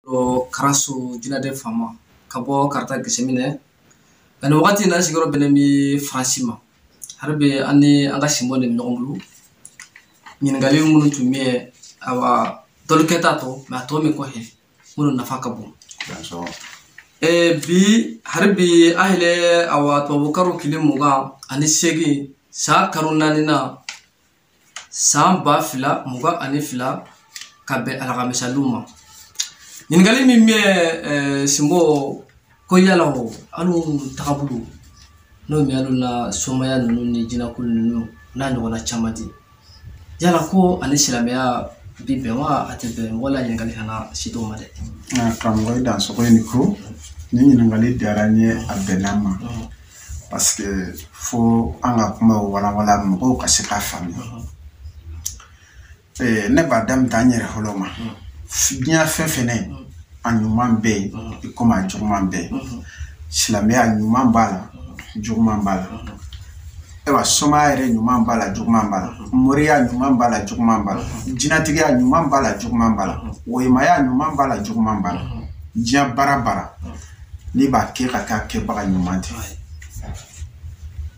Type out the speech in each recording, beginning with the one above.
o karaso jinɛden faama ka bɔ kaarta gesiminɛ ani wagati na sigiyɔrɔ bɛnnen bɛ faransi ma hari bi an ni an ka sinbɔ de ɲɔgɔn bolo ɲininkali minnu tun bɛ yen awa dɔlu kɛta tɔ mɛ a tɔ min kɔfɛ minnu nafa ka bon bi hari bi an yɛrɛ awa tubabu karo kile mugan ani seegin san karo naani na san ba fila mugan ani fila ka bɛn alakamisalon ma ɲininkali min bɛ eh, sinbɔ ko yala o alu tagabolo n'o bɛ alu na somaya ninnu ni jinɛkulu ninnu n'a ɲɔgɔnna caman ti yala ko ani silamɛya bi bɛn wa a tɛ bɛn wala ɲininkali kana si t'o ma dɛ. karamɔgɔ i dansogo i ni ko nin ɲininkali diyara n ye a bɛnna n ma. parce que fo an ka kuma walawala mɔgɔw ka se k'a faamuya ne b'a daminɛ an yɛrɛ fɔlɔ ma diɲɛ fɛn fɛn a ɲuman bɛ yen i komi a juguman bɛ yen silamɛya ɲuman b'a la juguman b'a la ayiwa somaya yɛrɛ ɲuman b'a la juguman b'a la moriya ɲuman b'a la juguman b'a la jinɛtigiya ɲuman b'a la juguman b'a la woyimaya ɲuman b'a la juguman b'a la diɲɛ baara baara n'i b'a kɛ ka kɛ a kɛbaga ɲuman ti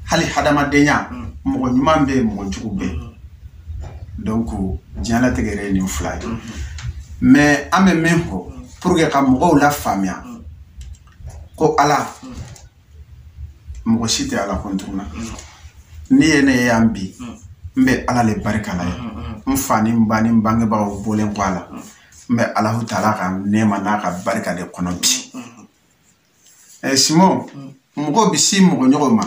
hali hadamadenya mm. mɔgɔ ɲuman bɛ yen mɔgɔ jugu bɛ yen mm-hmm. donc diɲɛlatigɛ yɛrɛ ye nin fila ye mm-hmm. mais an bɛ min fɔ pour que ka mɔgɔw lafaamuya mm. ko ala mm. mɔgɔ si tɛ ala kɔn tuguna n'i ye ne ye yan bi n bɛ ala le barika la ye n fa ni n ba ni n bangebagaw bɔlen kɔ a la n bɛ alahu taala ka nɛɛma n'a ka barika de kɔnɔ bi ɛ sinbɔ mɔgɔw bɛ si mɔgɔ ɲɔgɔn ma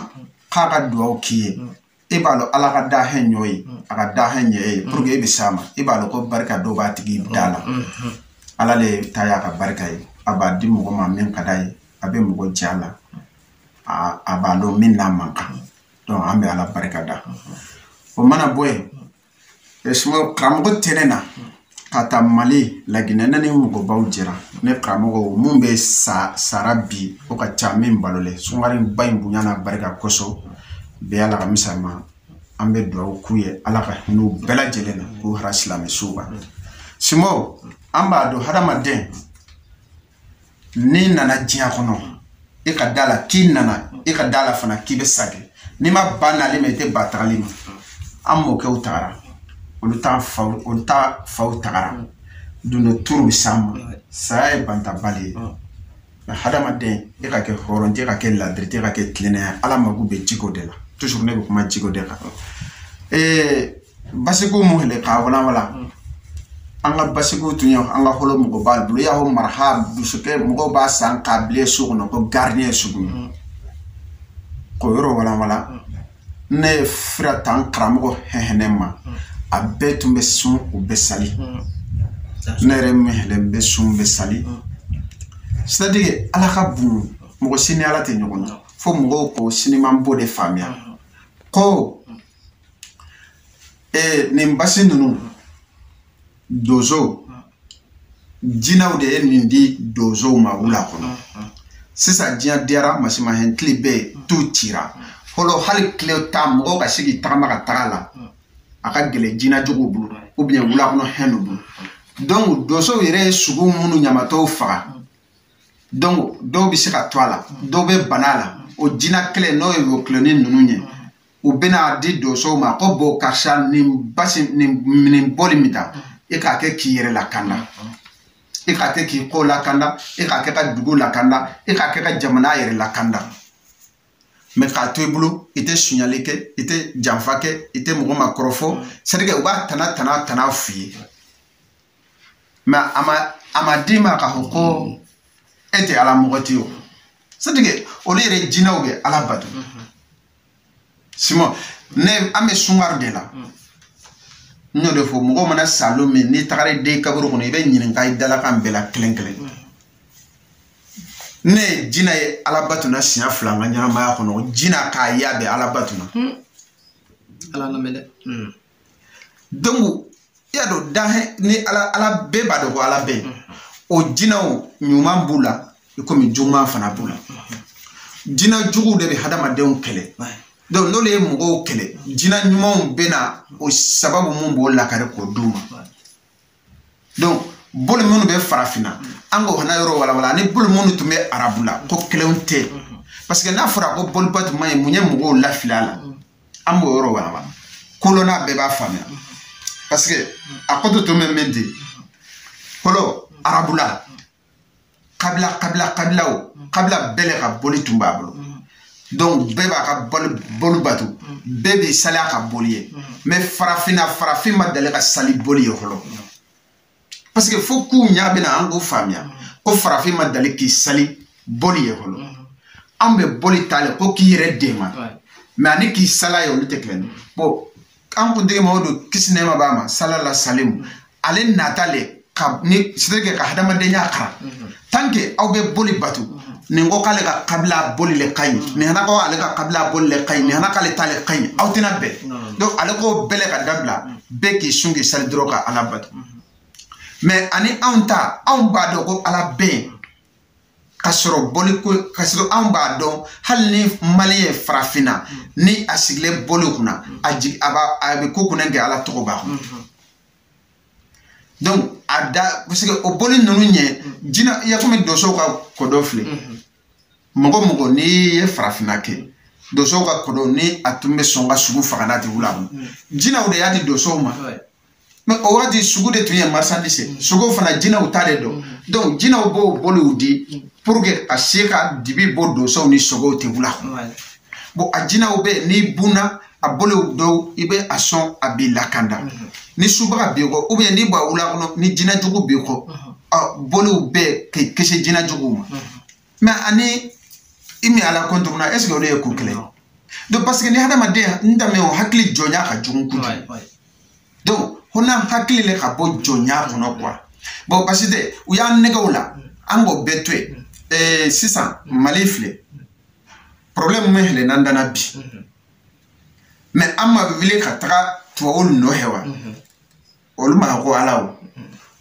k'a ka dugawu k'i ye e b'a dɔn ala ka danfɛn ɲɔgɔn ye a ka danfɛn ye pour que e bɛ s'a ma e b'a dɔn ko barika dɔ b'a tigi da la ala le ta y'a ka barika ye a b'a di mɔgɔ ma min ka d'a ye a bɛ mɔgɔ j'a la a b'a dɔn min n'a man kan donc an bɛ ala barika da o mana bɔ yen sinbɔ karamɔgɔ tɛnɛn na ka taa mali laginɛ ne ni mɔgɔbaw jɛra ne karamɔgɔ min bɛɛ sara bi o ka ca min balolen sunkaro ba in bonya n'a barika kosɔn bɛɛ y'a la ka misali ma an bɛ dugawu k'u ye ala ka hinɛ u bɛɛ lajɛlen na k'u hara silamɛsuw kan sinbɔ an b'a dɔn hadamaden n'i nana diɲɛ kɔnɔ e ka d'a la k'i nana e ka d'a la fana k'i bɛ sage n'i ma ban nali ma i tɛ ban tagali ma an mɔkɛw tagara olu ta faw tagara don dɔ tour bɛ s'an ma saya ye bantabali ye nka hadamaden e ka kɛ hɔrɔn ti ka kɛ ladiri ti ka kɛ tilennenya ala mako bɛ jiko de la toujours ne bɛ kuma jiko de kan ee basiko mun hele k'a walawala an ka basiko tun ye an ka hɔlɔ mɔgɔbaw bolo y'a fɔ maraha dusukɛ mɔgɔw b'a san k'a bila so kɔnɔ ko gardien sugu ye k'o yɔrɔ walawala ne ye fura ta n karamɔgɔ hɛhɛnɛ ma a bɛɛ tun bɛ sun u bɛ sali ne yɛrɛ min hele n bɛ sun bɛ sali c'est à dire ala ka bon mɔgɔ si ni ala tɛ ɲɔgɔn na fo mɔgɔw ko siniman b'o de faamuya ko ee nin basi ninnu donso jinɛw de ye nin di donsow ma wula kɔnɔ sisan diɲɛ diyara mansinmahɛn tile bɛɛ tu cira fɔlɔ hali tile ta mɔgɔw ka se k'i tagama ka taga a la a ka gɛlɛn jinɛ juguw bolo ou bien wula kɔnɔ hɛnw bolo donc donsow yɛrɛ ye sogo minnu ɲamatɔw faga donc dɔw bɛ se ka to a la dɔw bɛ bana a la o jinɛ kelen n'o ye wɔkilɔni ninnu ye u bɛna di donsow ma ko bon karisa nin basi nin nin boli min ta e k'a kɛ k'i yɛrɛ lakanda e k'a kɛ k'i kɔ lakanda e k'a kɛ ka dugu lakanda e k'a kɛ ka jamana yɛrɛ lakanda mais k'a to i bolo i tɛ sonyali kɛ i tɛ janfa kɛ i tɛ mɔgɔ ma kɔrɔfɔ c'est à dire que u b'a tana tana tana f'i ye mais a ma a ma d'i ma k'a fɔ ko e tɛ ala mɔgɔ tɛ o c'est à dire que olu yɛrɛ jinɛw bɛ ala bato simɔn ne an bɛ sungari de la mm. n y'o de fɔ mɔgɔ mana sa don min n'i tagara i don kaburu kɔnɔ i bɛ ɲininka i dalakan bɛɛ la kelen kelen mm. ne ye jina ye ala batu na siɲɛ fila n ka ɲɛnamaya kɔnɔ jina k'a ye a bɛ ala batu na mm. ala lamɛn dɛ donc i y'a dɔn danhɛn ni ala ala bɛɛ b'a dɔn ko ala bɛ o jinɛw ɲuman b'u la i komi juguman fana b'u la jinɛ juguw de bɛ hadamadenw kɛlɛ donc n'olu ye mɔgɔw kɛlɛ jinɛ ɲumanw bɛ na o sababu mun b'o lakari k'o d'u ma donc boli minnu bɛ farafinna an k'o fana yɔrɔ walawala ani boli minnu tun bɛ arabula ko kelenw tɛ parce que n'a fɔra ko boli bato man ɲi mun ye mɔgɔw lafili a la an b'o yɔrɔ walawala kolonna bɛɛ b'a faamuya parce que a kɔto tun bɛ min di fɔlɔ arabula kabila kabila kabila o mm. kabila bɛɛ le ka boli tun b'a bolo mm. donc bɛɛ b'a ka boli bato mm. bɛɛ b'i sali a ka boli ye mais farafinna farafin ma deli ka sali boli ye fɔlɔ parce que fo k'u ɲa bɛna an k'o faamuya ko farafin ma deli k'i sali boli ye fɔlɔ an bɛ boli ta le ko k'i yɛrɛ dɛmɛ mais ani k'i sali a ye olu tɛ kelen bon an kuntigi Mamadu kisi nɛɛma b'a ma salala salimu ale nata le ka ni sirike ka hadamadenya kara mhm. tant que aw bɛ boli bato mhm. nin ko k'ale ka kabila boli le ka ɲi mhm. nin hana ko ale ka kabila boli le ka ɲi nin hana k'ale ta le ka ɲi aw tɛna bɛn donc ale ko bɛɛ le k'a dabila bɛɛ k'i sun k'i sali dɔrɔn ka ala bato mais ani anw ta anw b'a dɔn ko ala bɛ yen ka sɔrɔ boli ko ka sɔrɔ anw b'a dɔn hali ni maliyɛn farafinna ni a sigilen boli kunna a jigi a b'a a bɛ ko kunna kɛ ala tɔgɔ b'a kɔnɔ donc a da parce que o boli ninnu ɲɛ jina i y'a komi donsow ka kodɔn filɛ mɔgɔ mɔgɔ n'i ye farafinna kɛ donsow ka kodɔn ni a tun bɛ sɔn ka sogo faga n'a tigi wula jinaw de y'a di donsow ma mais o waati sogo de tun ye marchandise mm. sogo fana jinaw ta de don mm. donc jinaw b'o boliw di mm. pour que ka se ka dibi bɔ donsow ni sogow tɛ wula bon a jinaw bɛ n'i bunna a boliw dɔw i bɛ a sɔn a b'i lakanda mm-hmm. ni subaga b'i kɔ ou bien n'i b'a wula kɔnɔ ni jina jugu b'i kɔ mm-hmm. boliw bɛ k'i kisi jina juguw ma mm-hmm. mais ani i min ala kɔntoro na est ce que olu ye ko kelen ye donc parce que ni hadamaden n danbe o hakili jɔnya ka jugu kojugu donc fo n'an hakili le ka bɔ jɔnya kɔnɔ quoi bon parce que u y'an nɛgɛw la an k'o bɛɛ to yen ee sisan mali filɛ problème min hɛlɛ n'an da na bi mais an ma wuli ka taga tubabuw nɔfɛ wa olu ma ko ala o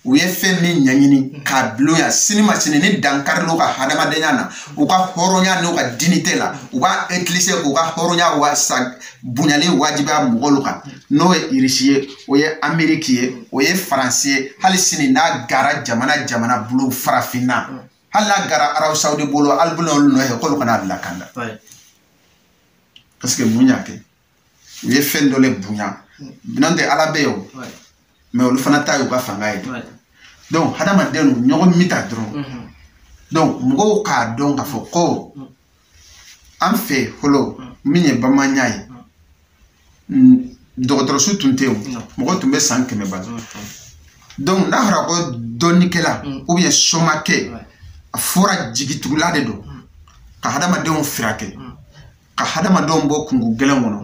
u ye fɛn min ɲɛɲini k'a bulon yan sini ma sini ni dankari n'u ka hadamadenya na u ka hɔrɔnya n'u ka dignité la u b'a utiliser k'u ka hɔrɔnya wa sa bonyali wajibiya mɔgɔw kan n'o ye irisi ye o ye ameriki ye o ye faransi ye hali sini n'a gara jamana jamana bulu farafinna hali n'a gara arabu sawudi bolo alibulon olu nɔfɛ k'olu ka n'an lakanda parce que mun y'a kɛ u ye fɛn dɔ le bonya n'o tɛ ala bɛ yen o mais olu fana ta y'u ka fanga ye donc hadamadenw ɲɔgɔn mita dɔrɔn mhm. donc mɔgɔw k'a dɔn k'a fɔ ko mhm. an fɛ fɔlɔ mhm. min ye bamanya ye dɔgɔtɔrɔso tun tɛ yen mɔgɔ tun bɛ san kɛmɛ bɔ donc n'a fɔra ko dɔnnikɛla ou bien somakɛ a fɔra jigitugula de don ka hadamadenw furakɛ ka hadamadenw bɔ kungo gɛlɛn kɔnɔ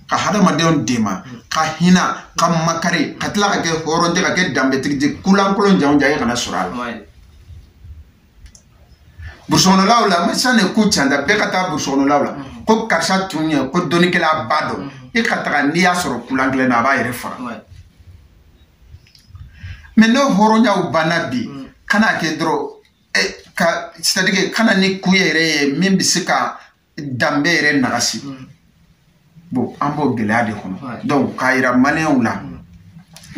ka hadamadenw dɛmɛ ka hina ka makari ka tila ka kɛ hɔrɔn ye ka kɛ danbetigi di kulankolon janw jan ye kana sɔrɔ a la burusikɔnɔlaw la mais san de ku canta bɛɛ ka taa burusikɔnɔlaw la mm-hmm. ko karisa tun ye ko dɔnnikɛlaba don mm-hmm. i ka taga n'i y'a sɔrɔ kulan kelen na a b'a yɛrɛ faga mais n'o hɔrɔnyaw banna bi mm. kana kɛ dɔrɔn eh, ka c'est à dire kana ni kun yɛrɛ ye min bɛ se ka danbe yɛrɛ nagasi mm. bon an b'o gɛlɛya de kɔnɔ donc k'a yira maliyɛnw la mm.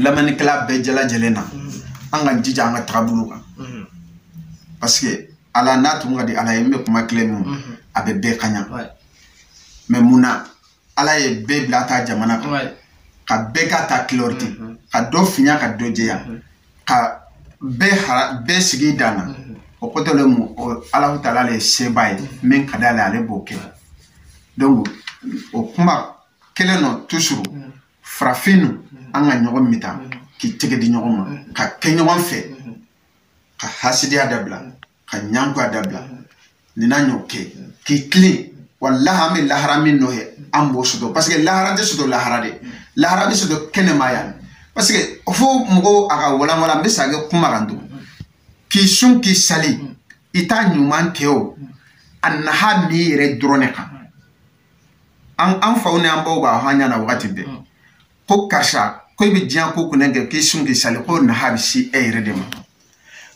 lamɛnnikɛla bɛɛ jalajɛlen na mm. an ka jija an ka tagabolo kan parce que ala n'a tun ka di ala ye n bɛ kuma kelen min a bɛ bɛɛ kaɲa mais mun na ala ye bɛɛ bila ta jamana kan ka bɛɛ k'a ta kulɔri ten mhm. ka dɔ fiɲa ka dɔ jɛya mhm. ka bɛɛ hara bɛɛ sigi dan na mhm. o kɔtɔ le mu alahu taala le ye seba ye min ka d'ale ale b'o kɛ donc o kuma kelen nɔ toujours farafinnu an ka ɲɔgɔn mita k'i tɛgɛ di ɲɔgɔn ma ka kɛ ɲɔgɔn fɛ ka hasidiya dabila ka ɲangoya dabila nin n'a ɲɔ kɛ k'i tilen walahi an bɛ lahara min nɔ ye an b'o sɔrɔ parce que lahara tɛ sɔrɔ lahara dɛ lahara bɛ sɔrɔ kɛnɛma yan parce que fo mɔgɔw a ka walanwalan n bɛ sagin kuma kan tugun k'i sun k'i sali i t'a ɲuman kɛ o a naha b'i yɛrɛ dɔrɔn de kan an faw ni an baw b'a fɔ an ɲɛna wagati bɛɛ ko karisa ko i bɛ diɲɛ ko kunnɛ kɛ k'i sun k'i sali ko naha bɛ se e yɛrɛ de ma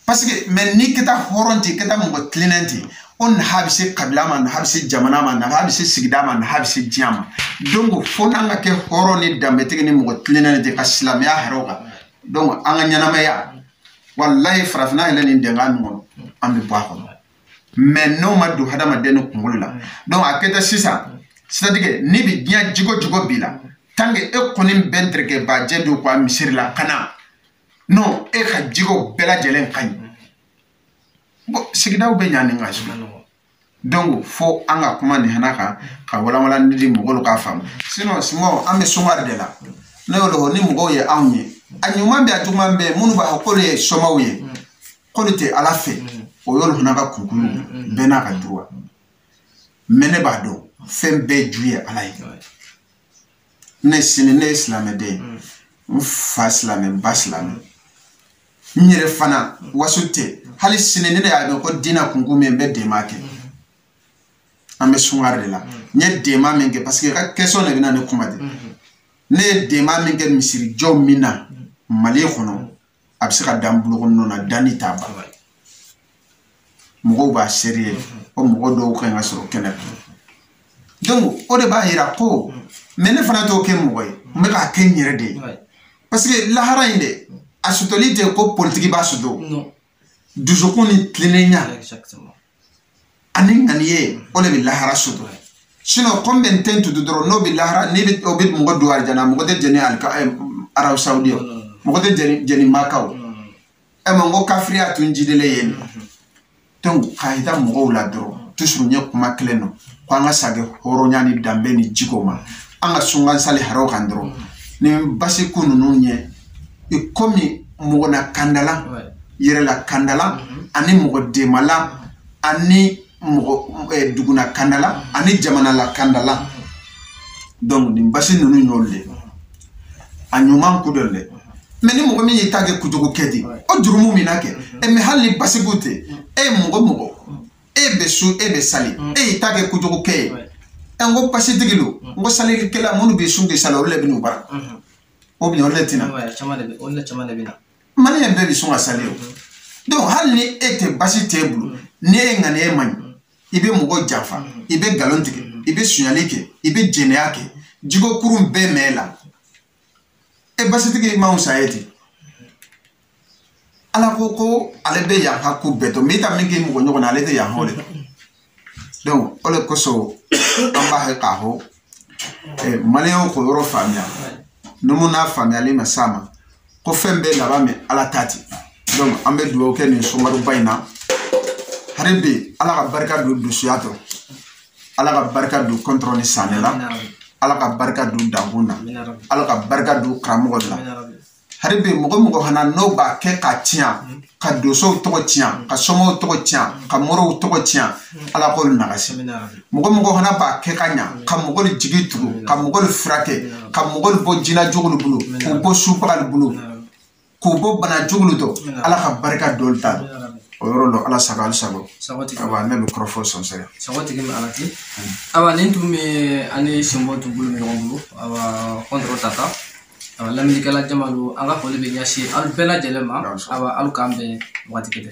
parce que mais n'i kɛta hɔrɔn ten kɛta mɔgɔ tilennen ten o naha bɛ se kabila ma naha bɛ se jamana ma naha bɛ se sigida ma naha bɛ se diɲɛ ma donc fo n'an ka kɛ hɔrɔn ni danbetigi ni mɔgɔ tilennen ten ka silamɛya hara o kan donc an ka ɲɛnamaya walayi farafinna yɛrɛ nin denka nin kɔnɔ an bɛ bɔ a kɔnɔ mais n'o ma don hadamaden ni kunkolo la donc a kɛta sisan c'est-à-dire ni bi diɲɛ jogo jugu b'i la tant que e kɔni bɛ dɛrɛkɛba jɛ don ka wa misiri la ka na non e ka jogo bɛɛ lajɛlen ka ɲi bon sigidaw bɛ ɲa nin ka so donc fo an ka kuma nin hana kan ka walanwalan de mɔgɔw k'a faamu sinon somaw an bɛ sumari de la ne y'o de fɔ ni mɔgɔw ye anw ye a ɲuman bɛ a juguman bɛ minnu b'a fɔ k'olu ye somaw ye k'olu tɛ ala fɛ o yɔrɔ fana ka kurukuru bɛɛ n'a ka droit mais ne b'a dɔn fɛn bɛɛ ju ye ala ye ne sini ne ye silamɛden n fa silamɛ ba silamɛ n yɛrɛ fana waso tɛ hali sini ne de y'a dɔn ko dina kunko min bɛ dɛmɛ kɛ an bɛ sungare de la n ye dɛmɛ min kɛ parce que ka question de bɛna ne kuma de ne ye dɛmɛ min kɛ misirijɔ min na mali kɔnɔ a bɛ se ka dan bolokɔnnin na danni t'a ban mɔgɔw b'a seereya o mɔgɔ dɔw ka ɲi ka sɔrɔ kɛnɛ donc o de b'a yira ko mais ne fana t'o kɛ mɔgɔ ye n bɛ k'a kɛ n yɛrɛ de ye parce que lahara in de a sɔtɔli tɛ ko politigi b'a sɔtɔ dusukun ni tilennenya ani ŋaniya o le bɛ lahara sɔdɔ sinɔn kɔmi bɛ n ten tutu dɔrɔn n'o bɛ lahara n'i bɛ o bɛ mɔgɔ don alijana mɔgɔ tɛ jɛni alika ɛ arabu sawudi ye mɔgɔ tɛ jɛni maka ɛ mɛ n ko kafiriya tun jidilen yen donc k'a yira mɔgɔw la dɔrɔn toujours n ye kuma kelen nɔ ko an ka sagi hɔrɔnya ni danbe ni jiko ma an ka sun k'an sali hara o kan dɔrɔn nin basi ko ninnu ye i komi mɔgɔ nakandala yɛrɛ lakandala mhm. ani mɔgɔ dɛmɛla ani mɔgɔ eh, dugu nakandala mhm. ani jamana lakandala mhm. donc nin basi ninnu y'olu de a ɲuman ko dɔ dɛ mɛ ni mɔgɔ min y'i ta kɛ kojugu kɛ di o jurumu bɛna kɛ ɛ mɛ hali ni basiko tɛ e ye mɔgɔ mɔgɔ e bɛ sun e bɛ sali e y'i ta kɛ kojugu kɛ ye ɛ n ko basitigi don n ko salikɛla minnu bɛ sun k'i sali olu de bɛ n'u bara o bi o le tina o le caman de bɛ na mali yɛrɛ bɛɛ bi sun ka sali o donc hali ni e tɛ basi tɛ e bolo ni e ŋaniya man ɲi i bɛ mɔgɔ janfa i bɛ nkalon tigɛ i bɛ sunyali kɛ i bɛ jɛnɛya kɛ jiko kurun bɛɛ b'e la e basitigi man fisa e ti ala ko ko ale bɛ yaha ko bɛɛ dɔ mɛ i ka min k'i mɔgɔ ɲɔgɔn na ale tɛ yaha o le donc o de kosɔn an b'a kɛ k'a hɔ eh, maliyɛnw k'o yɔrɔ faamuya numu n'a faamuyali ma s'a ma ko fɛn bɛɛ laban bɛ ala ta ti donc an bɛ dugawu kɛ nin sunkaroba in na hari bi ala ka barika don dosoya tɔ ala ka barika don kɔntɔrɔn ni saanɛ la ala ka barika don dankun na ala ka barika don karamɔgɔ la hari bɛ mɔgɔ mɔgɔ hana n'o b'a kɛ ka tiɲa ka dosow tɔgɔ tiɲa ka somɔw tɔgɔ tiɲa ka morow tɔgɔ tiɲa ala k'olu nagasi mɔgɔ mɔgɔ hana b'a kɛ ka ɲa ka mɔgɔlu jigi tugu ka mɔgɔlu furakɛ ka mɔgɔlu bɔ jina jugulu bolo k'u bɔ subagalu bolo k'u bɔ bana jugulu dɔ ala ka barika d'olu ta o yɔrɔ lɔ ala sago alu sago awa ne bɛ kɔrɔfɔ sɔnsɛgɛ sagotigi ma ala ti awa nin tun bɛ an ni sinbo tun bolo ɲɔgɔn bolo awa kɔntɔrɔ tata Awa lamɛnnikɛla jamalu an ka foli bɛ ɲɛsin aw bɛɛ lajɛlen ma awa alu k'an bɛn wagati gɛdɛ.